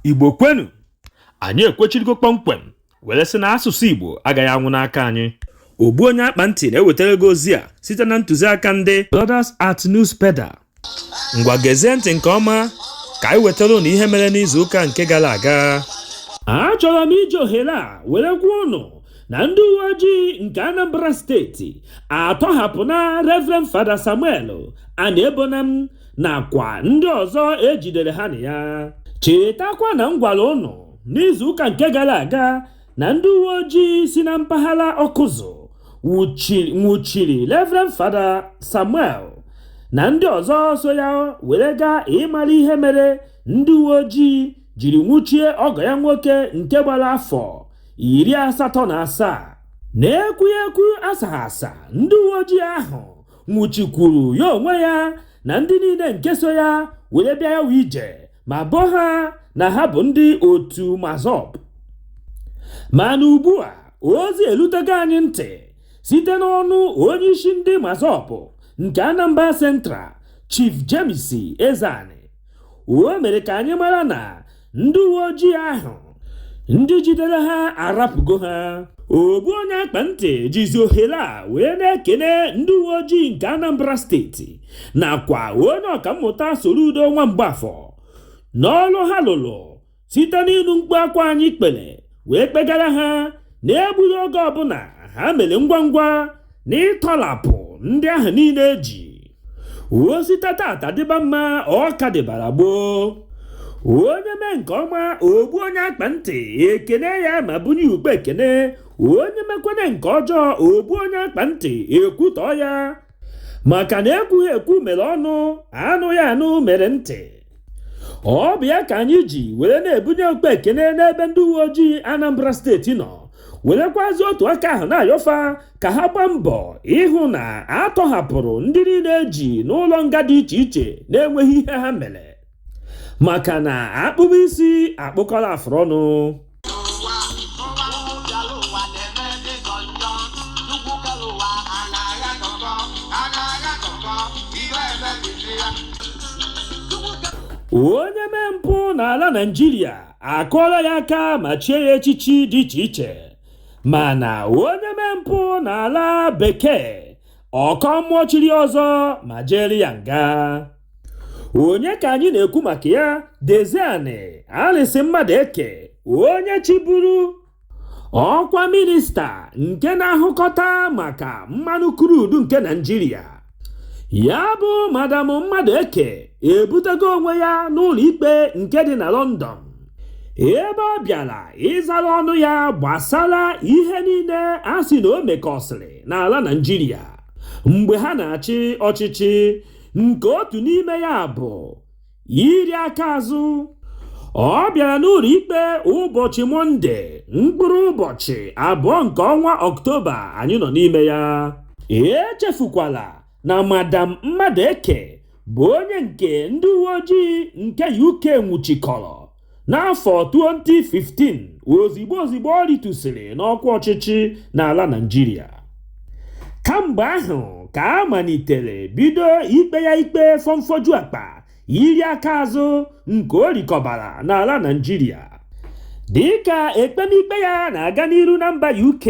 igbo kwenu anyị ekwechirigo kpọmkwem were sị na asụsụ igbo agaghị anwụ n'aka anyị ogbu onye akpa ntị na-ewetara gị ozi a site na ntụziaka ndị Brothers at Newspeda ngwa gezie ntị nke ọma ka anyị wetara ụnụ ihe mere n'izu ụka nke gara aga achọrọ m iji ohere a were gwa ụnụ na ndị uwe ojii nke anambra steeti atọhapụna reverend fada samuel aniebonam nakwa ndị ọzọ ejidere ha na ya chetakwa na m gwara ụnụ n'izuụka nke gara aga na ndị uwe ojii si na mpaghara ọkụzụ nwụchiri reverend fada samuel na ndị ọzọ so ya were gaa ịmara ihe mere ndị uwe ojii jiri nwụchie ọgọ ya nwoke nke gbara afọ iri asatọ na asaa na-ekwughị ekwu asaghị asa ndị uwe ojii ahụ nwụchikwuru ya onwe ya na ndị niile nke so ya were bịa ya bụ ije ma boo ha na ha bụ ndị otu MASSOB mana ugbu a ozi elutego anyị ntị site n'ọnụ onye isi ndị MASSOB nke anambra central chief james ezeani o mere ka anyị mara na ndị uwe ojii ahụ ndị jidere ha arapụgo ha ogbu onye akpa ntị jizi ohere a wee na-ekene ndị uwe ojii nke Anambra steeti nakwa onye ọkammụta Soludo Nwa Mgbafọ n'ọrụ ha lụrụ site n'ịnụ mkpu akwa anyị kpere wee kpegara ha na egbughị oge ọbụla ha mere ngwa ngwa na ịtọlapụ ndị ahụ niile eji o site tata dịba mma ọ ka dịbara gboo onye mee nke ọma ogbu onye akpa ntị ekene ya ma bunye ụkpa ekene onye mekwene nke ọjọọ ogbu onye akpa ntị ekwutọọ ya maka na ekwughị ekwu mere ọnụ anụghị anụ mere ntị ọ bụ ya ka anyị ji were na-ebunye ụkpa ekene n'ebe ndị uwe ojii Anambra steeti nọ werekwazi otu aka ahụ na-ayọ fa ka ha gbaa mbọ ịhụ na atọhapụrụ ndị niile eji n'ụlọ nga dị iche iche na-enweghị ihe ha mere maka na akpụbe isi akpụkọla afụrụ ọnụ ụwa ụwa ụbịala ụwa na-eme dịgọ njọ nnukwu kere ụwa a na-agha gọgọ a na-agha gọgọ iwe emebisi ya onye mee mpụ n'ala naijiria akụọla ya aka ma chie ya echichi dị iche iche mana onye mee mpụ n'ala bekee ọ kọọ mmụọ chiri ọzọ ma jeere ya nga onye ka anyị na-ekwu maka ya Diezani Alison Madueke onye chịburu ọkwa minista nke na-ahụkọta maka mmanụ krudu nke Naịjirịa ya bụ madam Madueke ebutego onwe ya n'ụlọ ikpe nke dị na London ebe ọ bịara ịzara ọnụ ya gbasara ihe niile a sị na o mekọsịrị n'ala Naịjirịa mgbe ha na-achị ọchịchị nke otu n'ime ya bụ iri aka azụ ọ bịara n'ụlọ ikpe ụbọchị mọnde mkpụrụ ụbọchị abụọ nke ọnwa ọktoba anyị nọ n'ime ya echefukwala na madam Madueke bụ onye nke ndị uwe ojii nke UK nwụchikọrọ n'afọ 2015 ozigbo ozigbo ọ rịtụsịrị n'ọkwa ọchịchị n'ala Naịjirịa kamgbe ahụ ka a malitere bido ikpe ya ikpe fọmfoju akpa iri aka azụ nke o rikọbara n'ala Naịjirịa dịka ekpemikpe ya na-aga n'iru na mba UK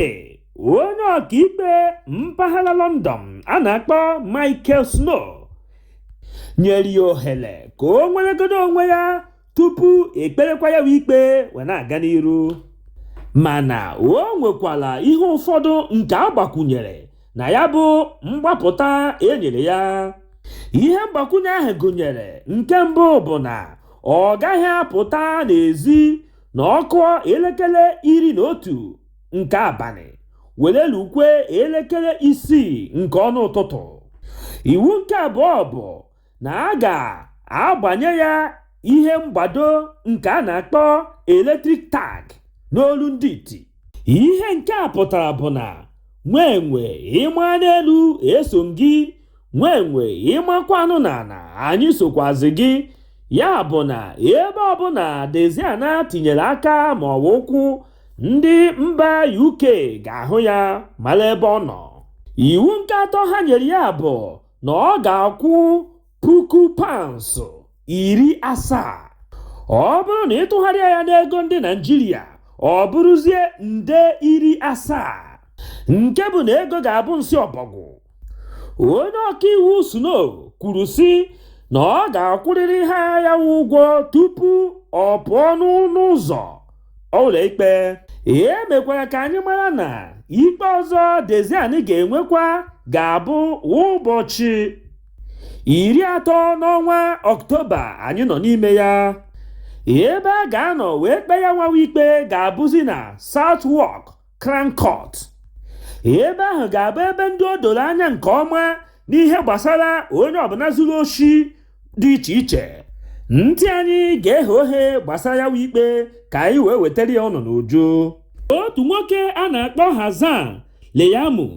onye ọkaikpe mpaghara London a na-akpọ Michael Snow nyere ya ohere ka o nweregodo onwe ya tupu e kperekwa ya bụ ikpe wee na-aga n'iru mana o nwekwara ihe ụfọdụ nke a gbakwunyere na ya bụ mgbapụta e nyere ya ihe mgbakwunye ahụ gụnyere nke mbụ bụ na ọ gaghị apụta n'ezi na ọkụ elekere iri na otu nke abalị were lukwe elekere isii nke ọnụ ụtụtụ iwu nke abụọ bụ na a ga-agbanye ya ihe mgbado nke a na-akpọ electric tag n'olu ndị iti ihe nke a pụtara bụ na nwa enwe ị maa n'elu e so gị nwa enwe ị makwanụ n'ana anyị sokwazi gị ya bụ na ebe ọbụla Diezani tinyere aka ma ọ bụ ụkwụ ndị mba UK ga-ahụ ya mara ebe ọ nọ iwu nke atọ ha nyere ya bụ na ọ ga-akwụ puku pounds iri asaa ọ bụrụ na ị tụgharịa ya n'ego ndị Naịjirịa ọ bụrụzie nde iri asaa nke bụ na ego ga-abụ nsị ọbọgwụ onye ọkaiwu Snow kwuru sị na ọ ga-akwụrịrị ha ya ụgwọ tupu ọ pụọ n'ọnụ ụzọ ụlọikpe e mekwara ka anyị mara na ikpe ọzọ Diezani ga-enwekwa ga-abụ ụbọchị iri atọ n'ọnwa ọktoba anyị nọ n'ime ya ebe a ga-anọ wee kpee ya nwawa ikpe ga-abụzi na Southwark Crown Court ebe ahụ ga-abụ ebe ndị o doro anya nke ọma n'ihe gbasara onye ọbụla zuru oshi dị iche iche ntị anyị ga-eghe oghe gbasara ya ikpe ka anyị wee wetara ya ụnụ n'uju otu nwoke a na-akpọ Hassan Leyamu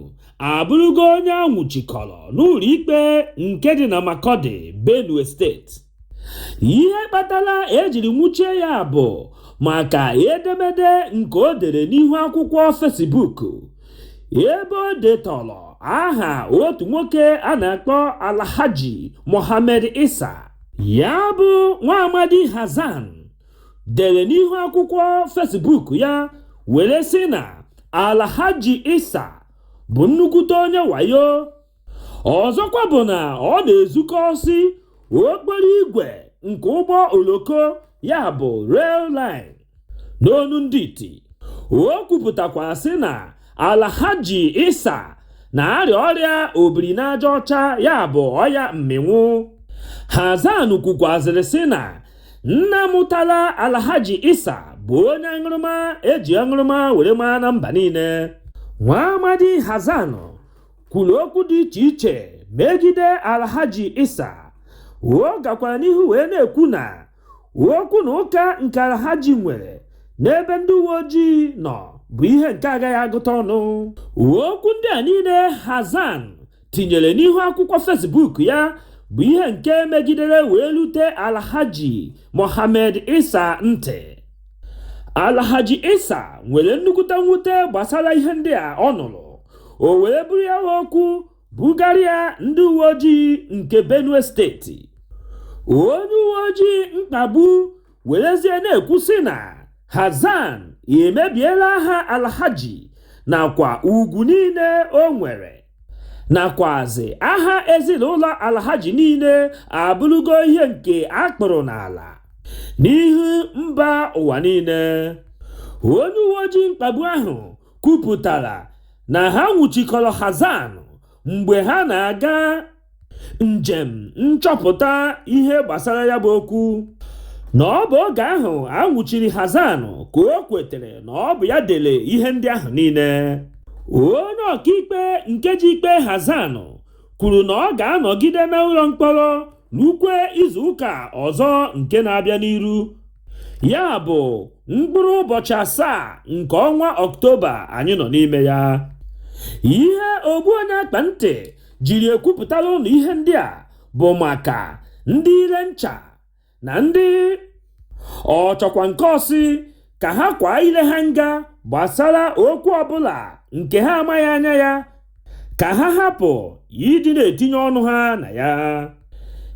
abụrụgo onye anwụchikọrọ n'ụlọ ikpe nke dị na Makurdi Benue steeti ihe kpatara ejiri nwụchie ya bụ maka edemede nke o dere n'ihu akwụkwọ Facebook ebe o detọrọ aha otu nwoke a na-akpọ Alhaji Mohammed Isa ya bụ nwa amadi Hassan dere n'ihu akwụkwọ Facebook ya were sị na Alhaji Isa bụ nnukwute onye wayo ọzọkwa bụ na ọ na-ezukọsi okporo igwe nke ụgbọ oloko ya bụ rail line n'onu ndị iti o kwupụtakwara sị na alhaji isa na-arịa ọrịa obiri n'aja ọcha ya bụ ọya mmịnwụ hassan kwukwazịrị sị na nna mụtara alhaji isa bụ onye aṅụrụma eji aṅụrụma were maa na mba niile nwa amadi hassan kwuru okwu dị iche iche megide alhaji isa ọ gakwara n'ihu wee na-ekwu na okwu na ụka nke alhaji nwere n'ebe ndị uwe ojii nọ bụ ihe nke agaghị agụta ọnụ okwu ndị a niile hassan tinyere n'ihu akwụkwọ facebook ya bụ ihe nke megidere wee lute alhaji mohammed isa ntị alhaji isa nwere nnukwute mwute gbasara ihe ndị a ọ nụrụ o were buru ya okwu Bugarịa ndị uwe ojii nke Benue steeti. Onye uwe ojii mkpagbu werezie na-ekwu sị na Hassan emebiela aha Alhaji nakwa ugwu niile o nwere nakwazị aha ezinụlọ Alhaji niile abụrụgo ihe nke a kpụrụ n'ala n'ihu mba ụwa niile. Onye uwe ojii mkpagbu ahụ kwupụtara na ha nwụchikọrọ Hassan mgbe ha na-aga njem nchọpụta ihe gbasara ya bụ okwu na ọ bụ oge ahụ a nwụchiri Hassan ka o kwetere na ọ bụ ya dere ihe ndị ahụ niile onye ọkaikpe nke ji ikpe Hassan kwuru na ọ ga-anọgide n'ụlọ mkpọrọ rukwe izu ụka ọzọ nke na-abịa n'iru ya bụ mkpụrụ ụbọchị asaa nke ọnwa ọktoba anyị nọ n'ime ya ihe ogbu onye akpa ntị jiri ekwupụtara ụnụ ihe ndị a bụ maka ndị ire ncha na ndị ọ chọkwa nke ọsị ka ha kwaa ile ha nga gbasara okwu ọbụla nke ha amaghị anya ya ka ha hapụ ịdị na-etinye ọnụ ha na ya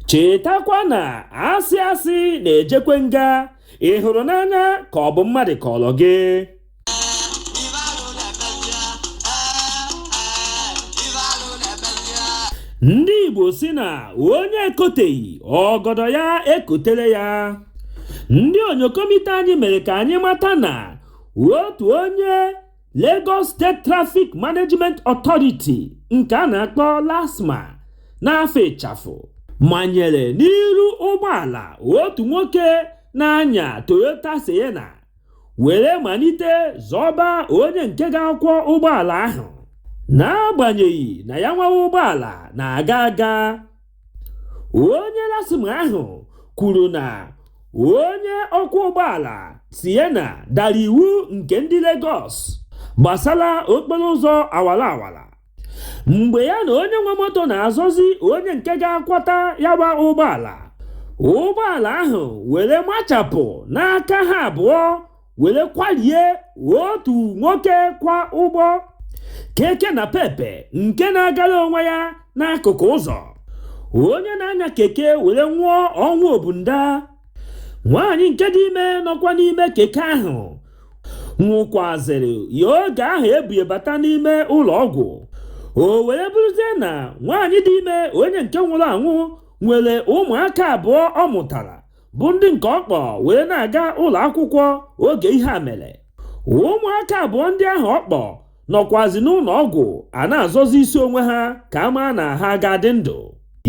chetakwa na asị asị na-ejekwe nga ị hụrụ n'anya ka ọ bụ mmadụ kọrọ gị ndị igbo si na onye ekoteghị ọgọdọ ya ekotere ya ndị onyokomite anyị mere ka anyị mata na otu onye Lagos State Traffic Management Authority nke a na-akpọ LASTMA n'afa ịchafụ manyere n'iru ụgbọala otu nwoke na-anya Toyota Sienna were malite zọba onye nke ga-akwọ ụgbọala ahụ n'agbanyeghị na ya nwa bụ ụgbọala na-aga aga onye LASTMA ahụ kwuru na onye ọkwọ ụgbọala Sienna dara iwu nke ndị Lagos gbasara okporo ụzọ awara awara mgbe ya na onye nwe moto na-azọzi onye nke ga-akwọta ya bụ ụgbọala ụgbọala ahụ were machapụ n'aka ha abụọ were kwalie otu nwoke kwọ ụgbọ keke napepe nke na-agara onwe ya n'akụkụ ụzọ onye na-anya keke were nwụọ ọnwụ ọbụnadị nwaanyị nke dị ime nọkwa n'ime keke ahụ nwụkwazịrị ya oge ahụ e bu ya bata n'ime ụlọ ọgwụ o were bụrụzie na nwaanyị dị ime onye nke nwụrụ anwụ nwere ụmụaka abụọ ọ mụtara bụ ndị nke ọ kpọ were na-aga ụlọ akwụkwọ oge ihe a mere ụmụaka abụọ ndị ahụ ọ kpọ nọkwazi n'ụlọ ọgwụ a na-azọzi isi onwe ha ka a maa na ha ga-adị ndụ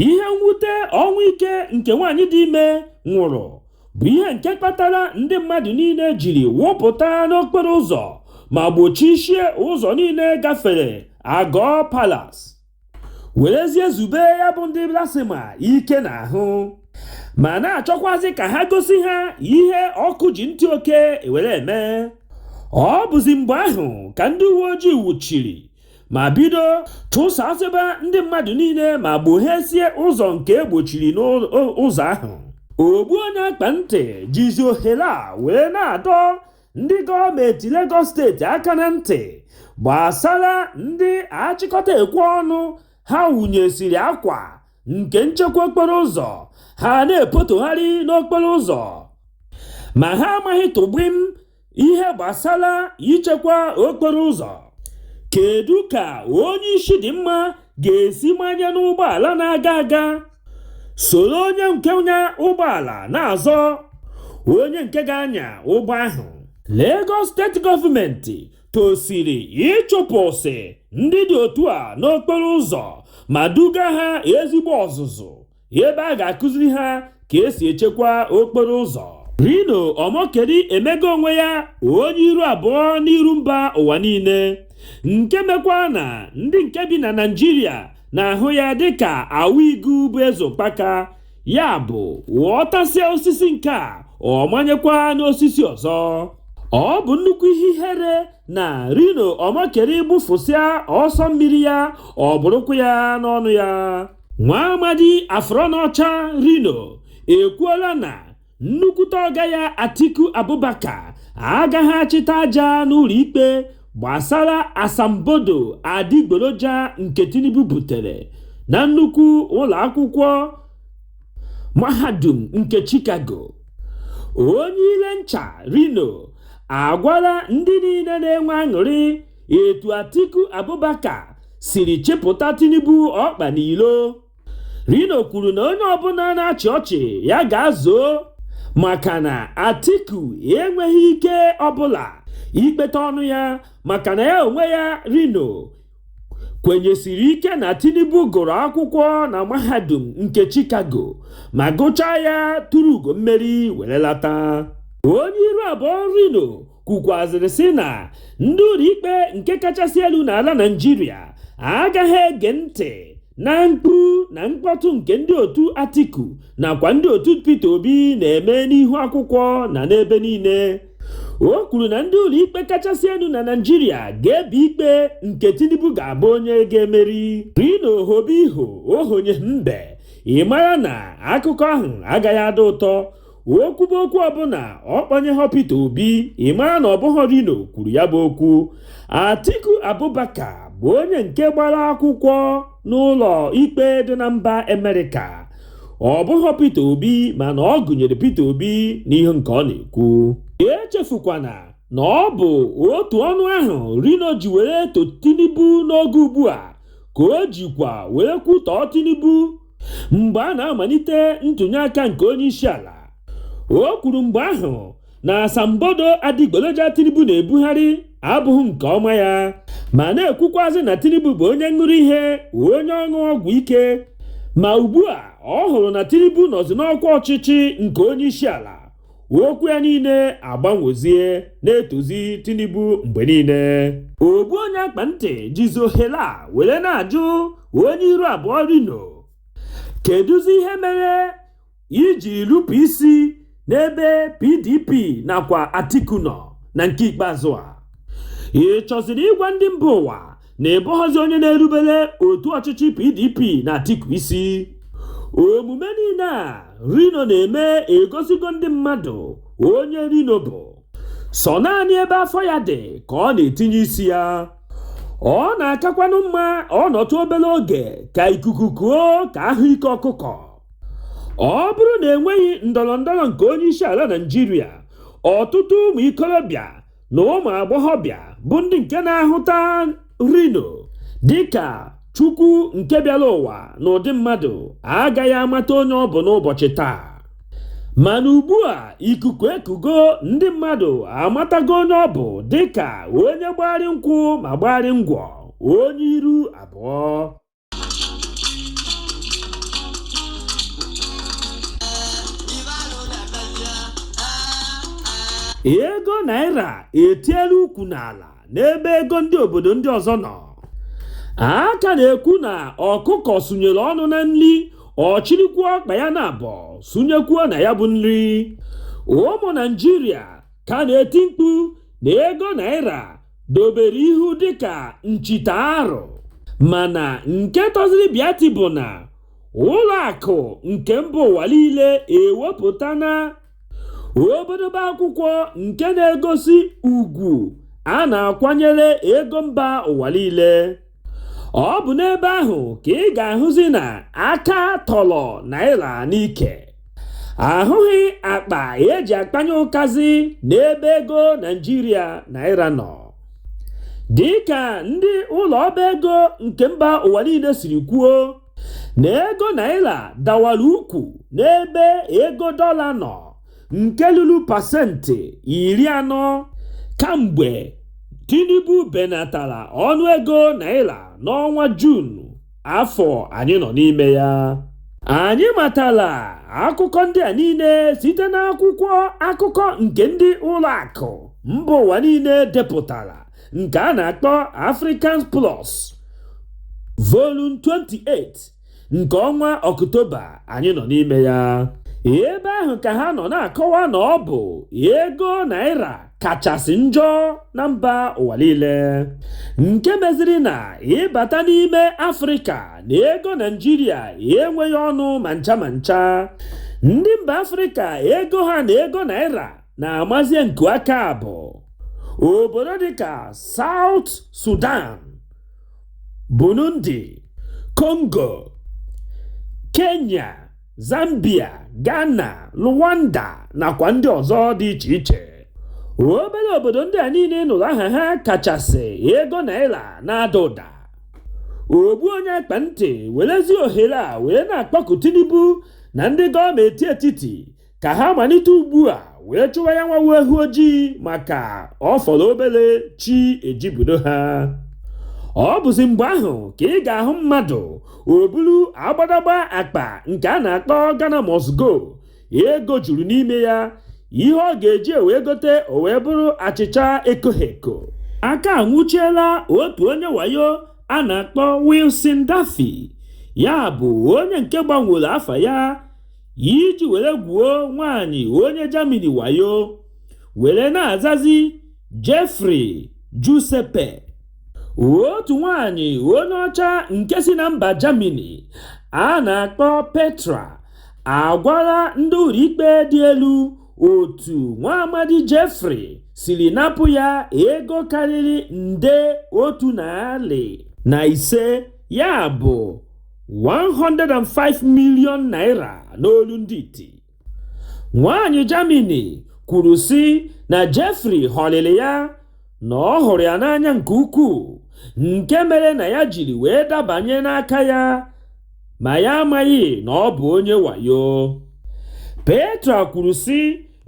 ihe mwute ọnwụ ike nke nwaanyị dị ime nwụrụ bụ ihe nke kpatara ndị mmadụ niile jiri wụpụta n'okporo ụzọ ma gbochisie ụzọ niile gafere Agọ Palace werezie zube ya bụ ndị LASTMA ike n'ahụ ma na-achọkwazi ka ha gosi ha ihe ọkụ ji ntị oke were eme ọ bụzi mgbe ahụ ka ndị uwe ojii wuchiri ma bido chụsasịba ndị mmadụ niile ma gbohesie ụzọ nke e gbochiri n'ụzọ ahụ ogbu onye akpa ntị jizi ohere a wee na-adọ ndị gọọmenti Lagos steeti aka na ntị gbasara ndị achịkọta ekwe ọnụ ha wụnyesiri akwa nke nchekwa okporo ụzọ ha na-epotogharị n'okporo ụzọ ma ha amaghị tụgbim ihe gbasara ichekwa okporo ụzọ kedu ka onye isi dị mma ga-esi manye n'ụgbọala na-aga aga soro onye nke nya ụgbọala na-azọ onye nke ga-anya ụgbọ ahụ Lagos steeti gọọmenti tosiri ịchụpụsị ndị dị otu a n'okporo ụzọ ma duga ha ezigbo ọzụzụ ebe a ga-akụziri ha ka esi echekwa okporo ụzọ Reno Omokri emego onwe ya onye iru abụọ n'iru mba ụwa niile nke mekwa na ndị nke bi na Naịjirịa na-ahụ ya dịka awa igu bụ eze ụkpaka ya bụ ọ tasịa osisi nke a ọ manyekwa n'osisi ọzọ ọ bụ nnukwu ihe ihere na Reno Omokri gbụfụsịa ọsọ mmiri ya ọ bụrụkwa ya n'ọnụ ya nwa amadi afọrọ n'ọcha reno ekwuola na nnukwute ọga ya atiku abubakar agaghị achịta aja n'ụlọikpe gbasara asambodo adịgboroja nke tinubu butere na nnukwu ụlọ akwụkwọ mahadum nke chicago onye ile ncha reno agwala ndị niile na-enwe aṅụrị etu Atiku Abubakar siri chịpụta Tinubu ọkpa n'ilo Reno kwuru na onye ọbụla na-achị ọchị ya gaa zoo maka na Atiku enweghị ike ọbụla ikpeta ọnụ ya maka na ya onwe ya Reno kwenyesiri ike na Tinubu gụrụ akwụkwọ na mahadum nke Chicago ma gụchaa ya turu ugo mmeri were lata onye iru abụọ Reno kwukwazịrị sị na ndị ụlọikpe nke kachasị elu n'ala Naịjirịa agaghị ege ntị na mkpu na mkpọtụ nke ndị otu Atiku nakwa ndị otu Peter Obi na-eme n'ihu akwụkwọ na n'ebe niile o kwuru na ndị ụlọikpe kachasị elu na Naịjirịa ga-ebe ikpe nke Tinubu ga-abụ onye ga-emeri Reno o hobe iho o honyeghị mbe ị mara na akụkọ ahụ agaghị adị ụtọ o kwuba okwu ọbụla ọ kpọnyeghọ Peter Obi ị mara na ọ bụghọ Reno kwuru ya bụ okwu Atiku Abubakar bụ onye nke gbara akwụkwọ n'ụlọ ikpe dị na mba Amerịka ọ bụghọ Peter Obi mana ọ gụnyere Peter Obi n'ihe nke ọ na-ekwu echefukwana na ọ bụ otu ọnụ ahụ Reno ji were to Tinubu n'oge ugbu a ka o jikwa were kwutọọ Tinubu mgbe a na-amalite ntụnyeaka nke onye isi ala o kwuru mgbe ahụ na asambodo adịgboloja Tinubu na-ebugharị abụghị nke ọma ya ma na-ekwukwazị na Tinubu bụ onye ṅụrụ ihe onye ọṅụ ọgwụ ike ma ugbu a ọ hụrụ na Tinubu nọzi n'ọkwa ọchịchị nke onye isi ala okwu ya niile agbanwezie na-etozi Tinubu mgbe niile ogbu onye akpa ntị jizi ohere a were na-ajụ onye iru abụọ Reno kedụzi ihe mere i ji rupụ isi n'ebe PDP nakwa Atiku nọ na nke ikpeazụ a ị chọziri ịgwa ndị mba ụwa na ị bụghọzi onye na-erubere otu ọchịchị PDP na Atiku isi omume niile a Reno na-eme egosigo ndị mmadụ onye Reno bụ sọ naanị ebe afọ ya dị ka ọ na-etinye isi ya ọ na-akakwanụ mma ọ nọtụ obere oge ka ikuku kuo ka a hụ ike ọkụkọ ọ bụrụ na enweghị ndọrọ ndọrọ nke onye isi ala Naịjirịa ọtụtụ ụmụ ikorobịa na ụmụ agbọghọbịa bụ ndị nke na-ahụta Reno dịka chukwu nke bịara ụwa n'ụdị mmadụ agaghị amata onye ọ bụ n'ụbọchị taa mana ugbu a ikuku ekugo ndị mmadụ amatago onye ọ bụ dịka onye gbagharị nkwụ ma gbagharị ngwọ onye iru abụọ ego naira etiela ukwu n'ala n'ebe ego ndị obodo ndị ọzọ nọ a ka na-ekwu na ọkụkọ sunyere ọnụ na nri ọ chịrịkwuo ọkpa ya naabọ sunyekwuo na ya bụ nri ụmụ Naịjirịa ka na-eti mkpu na ego naira dobere ihu dịka nchita arụ mana nke tọziri bịati bụ na ụlọ akụ nke mba ụwa niile ewepụtana obodobe akwụkwọ nke na-egosi ugwu a na-akwanyere ego mba ụwa niile ọ bụ n'ebe ahụ ka ị ga-ahụzi na aka tọrọ naira n'ike a hụghị akpa e ji akpanye ụkazi n'ebe ego Naịjirịa naira nọ dịka ndị ụlọ ọba ego nke mba ụwa niile siri kwuo na ego naira dawara ukwu n'ebe ego dọla nọ nke luru pasentị iri anọ kamgbe Tinubu benatara ọnụego naira n'ọnwa Juun afọ anyị nọ n'ime ya anyị matara akụkọ ndị a niile site n'akwụkwọ akụkọ nke ndị ụlọ akụ mba ụwa niile depụtara nke a na-akpọ Africans Plus Volume 28 nke ọnwa ọktoba anyị nọ n'ime ya ebe ahụ ka ha nọ na-akọwa na ọ bụ ego naira kachasị njọ na mba ụwa niile nke meziri na ịbata n'ime afrịka na ego naijiria enweghị ọnụ ma ncha ma ncha ndị mba afrịka ego ha na ego naira na-amazie nku aka bụ obodo dịka South Sudan Burundi, Congo, Kenya, Zambia, Ghana, Rwanda nakwa ndị ọzọ dị iche iche. Obere obodo ndị a niile ị nụrụ aha ha kachasị ego naira na-ada ụda. Ogbu onye akpa ntị werezi ohere a wee na-akpọku Tinubu na ndị gọọmenti etiti ka ha malite ugbu a wee chụwa ya nwa wụ eghu ojii maka ọ fọrọ obere chi ejibudo ha ọ bụzi mgbe ahụ ka ị ga-ahụ mmadụ o buru agbadagba akpa nke a na-akpọ Ghana must go ego juru n'ime ya ihe ọ ga-eji wee gote o wee bụrụ achịcha ekoghi eko aka anwụchiela otu onye wayo a na-akpọ Wilson Daffy ya bụ onye nke gbanwere afa ya iji were gwuo nwaanyị onye Germany wayo were na-azazi Jeffrey Giuseppe otu nwaanyị onye ọcha nke si na mba Germany a na-akpọ Petra agwala ndị ụlọikpe dị elu otu nwa amadi Jeffrey siri napụ ya ego karịrị nde otu narị na ise ya bụ 105 million naira n'olu ndị iti nwaanyị Germany kwuru sị na Jeffrey ghọlịrị ya na ọ hụrụ ya n'anya nke ukwuu nke mere na ya jiri wee dabanye n'aka ya ma ya amaghị na ọ bụ onye wayo Petra kwuru sị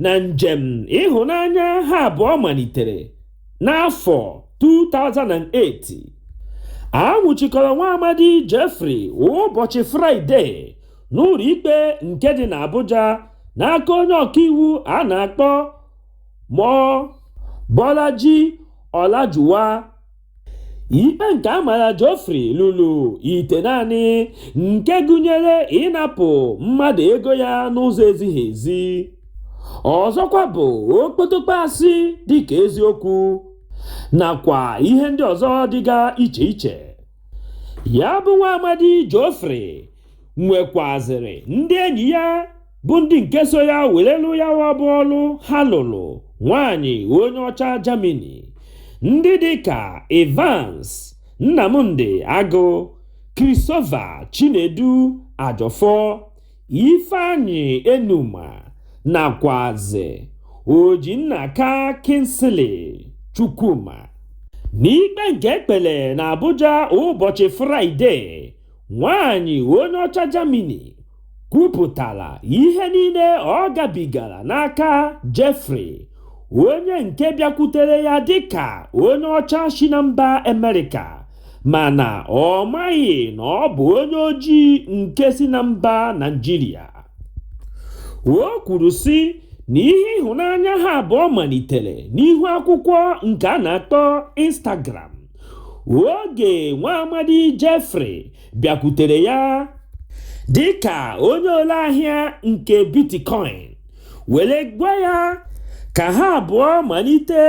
na njem ịhụnanya ha abụọ malitere n'afọ 2008 a nwụchikọrọ nwa amadi Jeffrey ụbọchị fraịde n'ụlọ ikpe nke dị n'Abuja n'aka onye ọkaiwu a na-akpọ Mobolaji Olajuwon ikpe nke a mara Geoffrey luru itenaanị nke gụnyere ịnapụ mmadụ ego ya n'ụzọ ezighị ezi ọzọkwa bụ okpotokpo asị dịka eziokwu nakwa ihe ndị ọzọ dịga iche iche ya bụ nwa amadi Jeffrey nwekwazịrị ndị enyi ya bụ ndị nke so ya were lụ ya bụ ọlụ ha lụrụ nwaanyị onye ọcha Germany ndị dịka Evans Nnamdi Agụ Christopher Chinedu Ajọfọ Ifeanyi Enuma nakwazị Ojinnaka Kingsley Chukwuma. N'ikpe nke e kpere n'Abuja ụbọchị Fraịde, nwaanyị onye ọcha Germany kwupụtara ihe niile ọ gabigara n'aka Jeffrey, onye nke bịakwutere ya dịka onye ọcha si na mba Amerịka mana ọ maghị na ọ bụ onye ojii nke si na mba Naịjirịa o kwuru sị na ihe ịhụnanya ha abụọ malitere n'ihu akwụkwọ nke a na-akpọ Instagram oge nwa amadi Jeffrey bịakwutere ya dịka onye ole ahịa nke bitcoin were gwa ya ka ha abụọ malite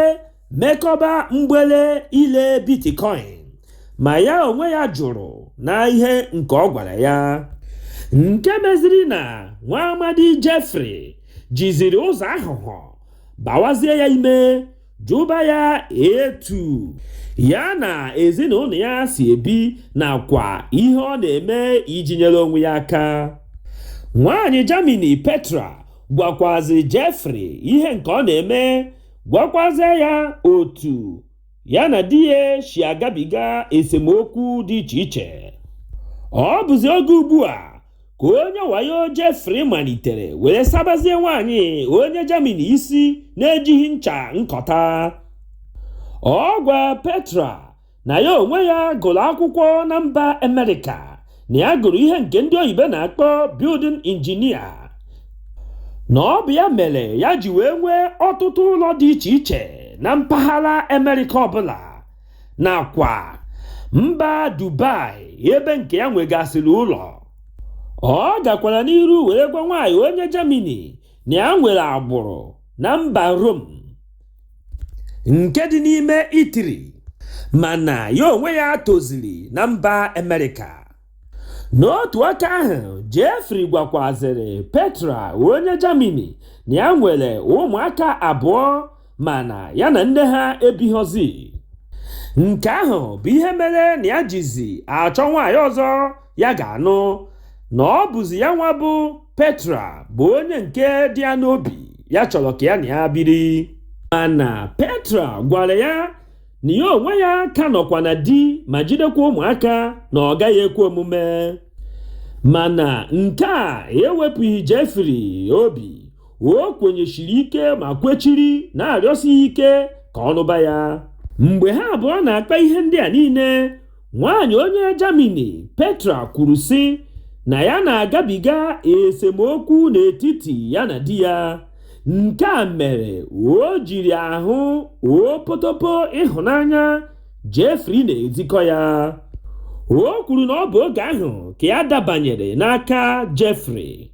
mekọba mgbele ile bitcoin ma ya onwe ya jụrụ na ihe nke ọ gwara ya nke meziri na nwa amadi Jeffrey jiziri ụzọ aghụghọ bawazie ya ime jụba ya etu ya na ezinụlọ ya si ebi nakwa ihe ọ na-eme iji nyere onwe ya aka nwaanyị Germany Petra gwakwazi Jeffrey ihe nke ọ na-eme gwakwazie ya otu ya na di ya si agabiga esemokwu dị iche iche ọ bụzi oge ugbu a ka onye wayo Jeffrey malitere were sabazie nwaanyị onye Germany isi na-ejighị ncha nkọta ọ gwa Petra na ya onwe ya gụrụ akwụkwọ na mba Amerịka na ya gụrụ ihe nke ndị oyibo na-akpọ building engineer na ọ bụ ya mere ya ji wee nwee ọtụtụ ụlọ dị iche iche na mpaghara Amerịka ọbụla nakwa mba Dubai ebe nke ya nwegasịrị ụlọ ọ gakwara n'iru were gwa nwaanyị onye Germany na ya nwere agbụrụ na mba Rome nke dị n'ime Italy mana ya onwe ya toziri na mba Amerịka n'otu aka ahụ Jeffrey gwakwazịrị Petra onye Germany na ya nwere ụmụaka abụọ mana ya na nne ha ebighọzi nke ahụ bụ ihe mere na ya jizi achọ nwaanyị ọzọ ya ga-anụ na ọ bụzi ya nwa bụ Petra bụ onye nke dị ya n'obi ya chọrọ ka ya na ya biri mana Petra gwara ya na ya onwe ya ka nọkwa na di ma jidekwa ụmụaka na ọ gaghị ekwe omume mana nke a ewepụghị Jeffrey obi o kwenyesiri ike ma kwechiri na-arịọsi ike ka ọ nụba ya mgbe ha abụọ na-akpa ihe ndị a niile Nwaanyị onye Germany Petra kwuru sị na ya na-agabiga esemokwu n'etiti ya na di ya. Nke a mere o jiri ahụ opotopo ịhụnanya Jeffrey na-ezikọ ya. O kwuru na ọ bụ oge ahụ ka ya dabanyere n'aka Jeffrey.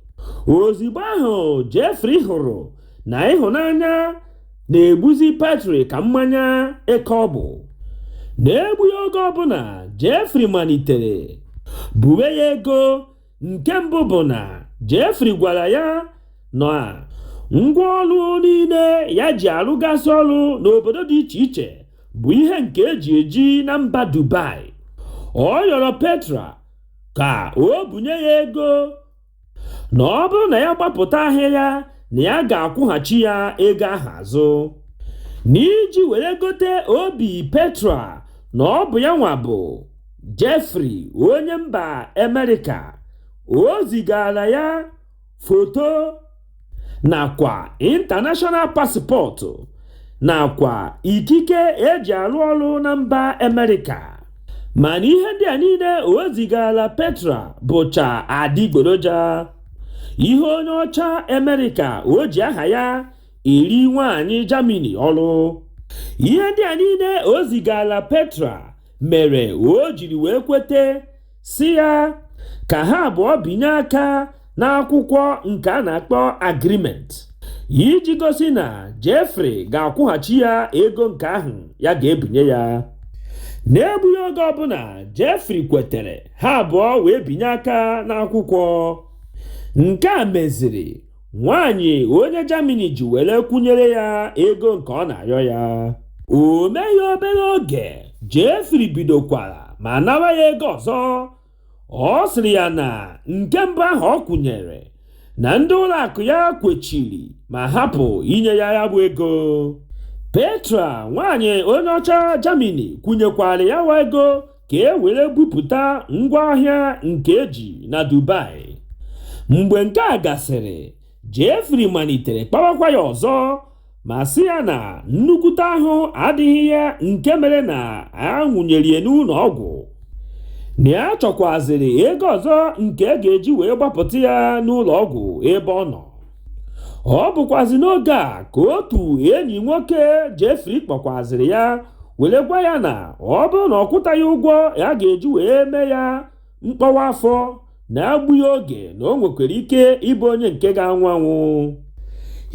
Ozigbo ahụ Jeffrey hụrụ na ịhụnanya na-egbuzi Petra ka mmanya eke ọ bụ. N'egbughị oge ọbụla, Jeffrey malitere buwe ya ego. Nke mbụ bụ na Jeffrey gwara ya na ngwa ọrụ niile ya ji arụgasị ọrụ n'obodo dị iche iche bụ ihe nke e ji eji na mba Dubai. Ọ yọrọ Petra ka o bunye ya ego na ọ bụrụ na ya gbapụta ahịa ya na ya ga-akwụghachi ya ego ahụ azụ n'iji were gote obi petra na ọ bụ ya nwa bụ Jeffrey onye mba Amerịka o zigara ya foto nakwa international passport nakwa ikike e ji arụ ọrụ na mba Amerịka mana ihe ndị a niile o zigara Petra bụcha adịgboroja ihe onye ọcha Amerịka o ji aha ya eri nwaanyị Germany ọrụ ihe ndị a niile o zigara Petra mere o jiri wee kwete sị ya ka ha abụọ binye aka n'akwụkwọ nke a na-akpọ agreement iji gosi na Jeffrey ga-akwụghachi ya ego nke ahụ ya ga-ebinye ya n'egbughị oge ọbụla Jeffrey kwetere ha abụọ wee binye aka n'akwụkwọ nke a meziri nwaanyị onye Germany ji were kwụnyere ya ego nke ọ na-arịọ ya o meghị obere oge Jeffrey bidokwara ma nawa ya ego ọzọ ọ sịrị ya na nke mbụ ahụ ọ kwụnyere na ndị ụlọ akụ ya kwechiri ma hapụ inye ya ya bụ ego Petra nwaanyị onye ọcha Germany kwụnyekwara ya wa ego ka e were bupụta ngwa ahịa nke e ji na Dubai. Mgbe nke a gasịrị, Jeffrey malitere kpawakwa ya ọzọ ma sị ya na nnukwute ahụ adịghị ya nke mere na a nwụnyere ya n'ụlọ ọgwụ na ya chọkwazịrị ego ọzọ nke e ga-eji wee gbapụta ya n'ụlọ ọgwụ ebe ọ nọ. ọ bụkwazi n'oge a ka otu enyi nwoke Jeffrey kpọkwaziri ya were gwa ya na ọ bụrụ na ọ kwụtaghị ụgwọ ya ga-eji wee mee ya mkpọwa afọ n'egbughị oge na o nwekwara ike ịbụ onye nke ga-anwụ anwụ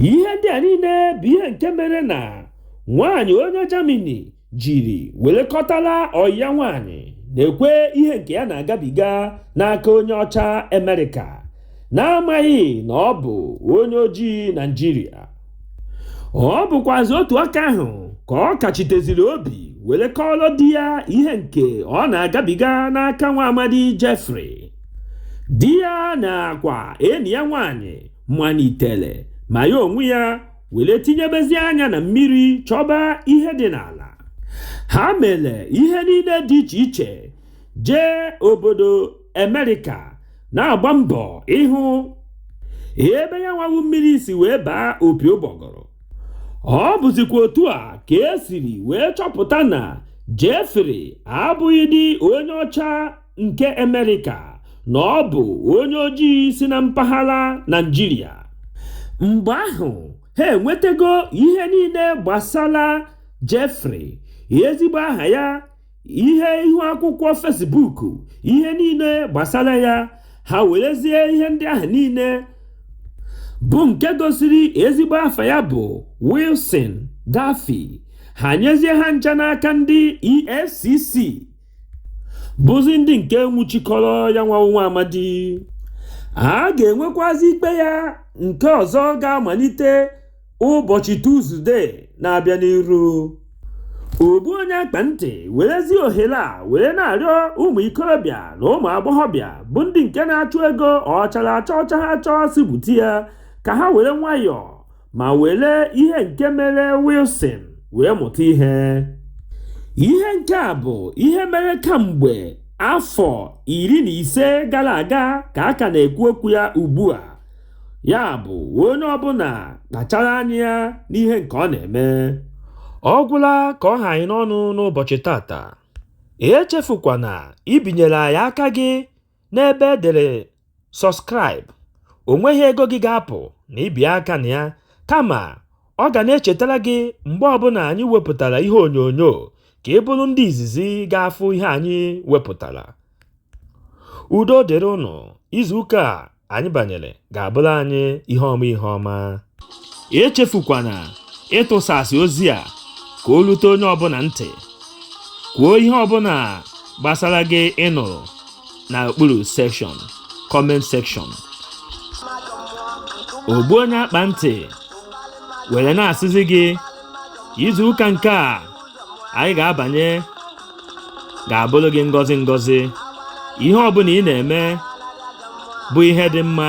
ihe ndị a niile bụ ihe nke mere na nwaanyị onye Germany jiri wele kọtala ọyị ya nwaanyị na-ekwe ihe nke ya na-agabiga n'aka onye ọcha Amerịka n'amaghị na ọ bụ onye ojii Naijiria ọ bụkwazi otu aka ahụ ka ọ kachiteziri obi were kọọrọ di ya ihe nke ọ na-agabiga n'aka nwa amadi Jeffrey di ya nakwa enyi ya nwaanyị malitere ma ya onwe ya were tinyebezi anya na mmiri chọba ihe dị n'ala ha mere ihe niile dị iche iche jee obodo amerịka na-agba mbọ ịhụ ebe ya nwa wụ mmiri si wee baa opi ụgbọgọrọ ọ bụzikwa otu a ka e siri wee chọpụta na Jeffrey abụghịdị onye ọcha nke Amerịka na ọ bụ onye ojii si na mpaghara Naịjirịa mgbe ahụ ha enwetago ihe niile gbasara Jeffrey ezigbo aha ya ihe ihu akwụkwọ Facebook ihe niile gbasara ya ha werezie ihe ndị ahụ niile bụ nke gosiri ezigbo afa ya bụ Wilson Daffy ha nyezie ha ncha n'aka ndị EFCC bụzi ndị nke nwụchikọrọ ya nwa wụ nwa amadi a ga-enwekwazi ikpe ya nke ọzọ ga-amalite ụbọchị Tuzdee na-abịa n'iru ọ bụ onye akpa ntị werezi ohere a were na-arịọ ụmụ ikorobịa na ụmụ agbọghọbịa bụ ndị nke na-achụ ego ọ chara acha ọ chaghị acha sị bute ya ka ha were nwayọọ ma were ihe nke mere Wilson wee mụta ihe ihe nke a bụ ihe mere kamgbe afọ iri na ise gara aga ka a ka na-ekwu okwu ya ugbu a ya bụ onye ọbụla kpachara anya ya n'ihe nke ọ na-eme ọ gwụla ka ọ ha anyị n'ọnụ n'ụbọchị taata echefukwana ibinyere anyị aka gị N'ebe e dere Subscribe, o nweghị ego gị ga-apụ na ibi aka na ya, kama ọ ga na-echetara gị mgbe ọbụla anyị wepụtara ihe onyonyo ka ị bụrụ ndị izizi ga-afụ ihe anyị wepụtara. Udo dịrị ụnụ, izuụka a anyị banyere ga-abụrụ anyị ihe ọma ihe ọma. echefukwana ịtụsasị ozi a ka o rute onye ọbụla ntị kwuo ihe ọbụla gbasara gị ị nụrụ na okpuru section comment section ogbu onye akpa ntị were na-asịzi gị izu ụka nke a anyị ga-abanye ga-abụrụ gị ngọzi ngọzi ihe ọbụla ị na-eme bụ ihe dị mma